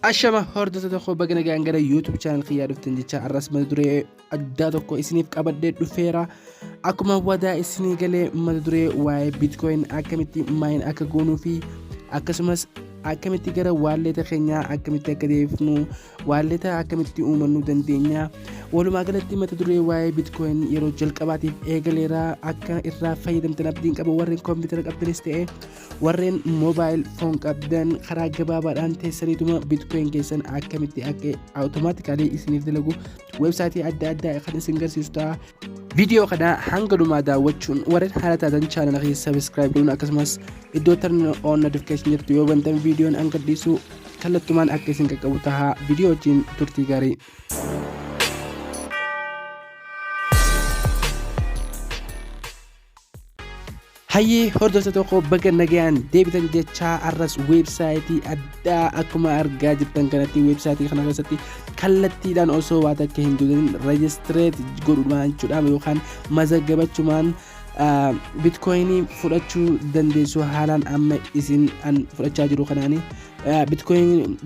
Ashama hordoftoota koo baga nagaan gara YouTube channel kiyyaa dhuftan jecha arras mata duree addaa tokko isiniif qabadhee dhufeera. Akkuma wadaa isinii galee mata duree waa'ee Bitcoin akkamitti maayin akka goonuu fi akkasumas akkamitti gara waalleeta keenyaa akkamitti akka deebifnu waalleeta akkamitti uumannuu dandeenya. Walumaa galatti mata duree waa'ee Bitcoin yeroo jalqabaatiif eegaleera akka irraa fayyadamtan abdiin qaba warreen koompitara qabdanis ta'e warreen mobile phone qabdan karaa gabaabaadhaan teessaniituma bitcoin keessan akkamitti akka automatically isiniif dalagu websaayitii adda addaa kan isin garsiisu ta'a viidiyoo kana hanga dhumaa daawwachuun warreen haala taatan chaanala keessa subscribe godhuun akkasumas iddoo turn on notification jirtu yoo bantan viidiyoon hanga dhiisu kallattumaan akka isin qaqqabu taha viidiyoo wajjin turtii gaarii Hayyee hordoftoota tokko baga nagayaan deebitan jechaa arras weebsaayitii addaa akkuma argaa jirtan kanatti weebsaayitii kana keessatti kallattiidhaan osoo waa takka hin tuqin rejistireet godhuudhaan jechuudha yookaan mazaggabachumaan bitkoyinii fudhachuu dandeessu haalaan amma isin an fudhachaa jiru kanaani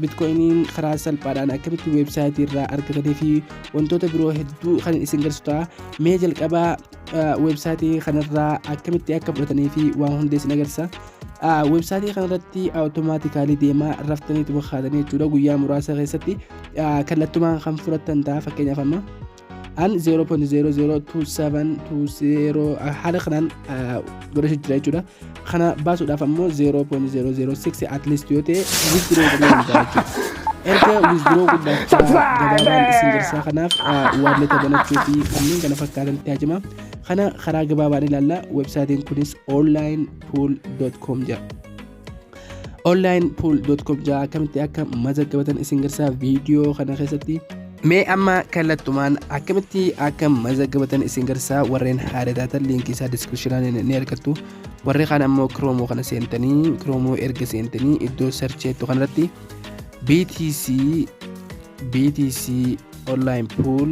bitkoyiniin karaa salphaadhaan akkamitti weebsaayitii irraa argatanii fi wantoota biroo hedduu kan isin garsiisu ta'a mee jalqabaa websaayitii kanarraa akkamitti akka fudhatanii fi waan hundee isin agarsiisa. Websaayitii kanarratti awutomaatikaalii deemaa raftanii itti bokkaatanii jechuudha guyyaa muraasa keessatti kallattumaan kan fudhatan ta'a fakkeenyaaf amma. An 0.002720 haala kanaan godhachuu jira jechuudha. kana baasuudhaaf ammoo 0.006 at least yoo ta'e withdraw godhuu danda'a jechuudha. Erga withdraw guddaachaa gabaabaan isin jirsaa kanaaf waalleeta banachuu fi kanneen kana fakkaatan itti hajima. Kana karaa gabaabaan ilaalla. Websaayitiin kunis onlinepool.com jedha. onlinepool.com jaa akkamitti akka mazaggabatan isin garsaa viidiyoo kana keessatti mee amma kallattumaan akkamitti akka mazaggabatan isin garsaa warreen haadha taatan liinkii isaa diskiripshinaan ni argattu warri kaan ammoo kiroomoo kana seentanii kiroomoo erga seentanii iddoo sarcheettu kanarratti BTC BTC online pool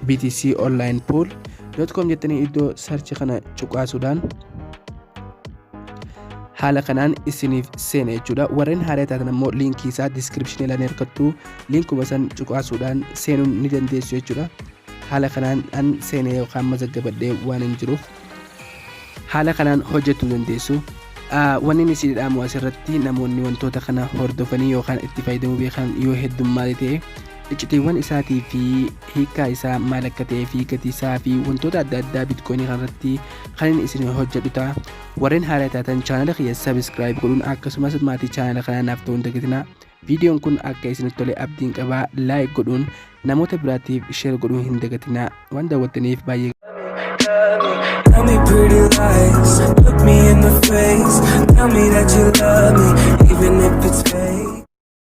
BTC online pool dot com jettanii iddoo search kana cuqaasuudhaan haala kanaan isiniif seena jechuudha warreen haaraa taatan ammoo liinkii isaa diskiripshinii lafa hirkattu liinkuma san cuqaasuudhaan seenuun ni dandeessu jechuudha haala kanaan an seenee yookaan mazaggabadhee waan hin jiruuf haala kanaan hojjechuu dandeessu. Wanni ni siidhaamu asirratti namoonni wantoota kana hordofanii yookaan itti fayyadamuu beekan yoo heddummaate ta'e iccitiiwwan isaatii fi hiikaa isaa maal akka ta'ee fi gatii isaa fi wantoota adda addaa bitcoinii kanarratti kan inni isin hojjedhu ta'a. Warreen haala taatan chaanala kiyya sabiskiraayib godhuun akkasumas maatii chaanala kanaa naaf ta'uun dagatinaa. Viidiyoon kun akka isinitti tole abdiin qabaa like godhuun namoota biraatiif share godhuu hin dagatinaa waan daawwattaniif baay'ee Tell me pretty lies, look me in the face. Tell me that you love me, even if it's fake.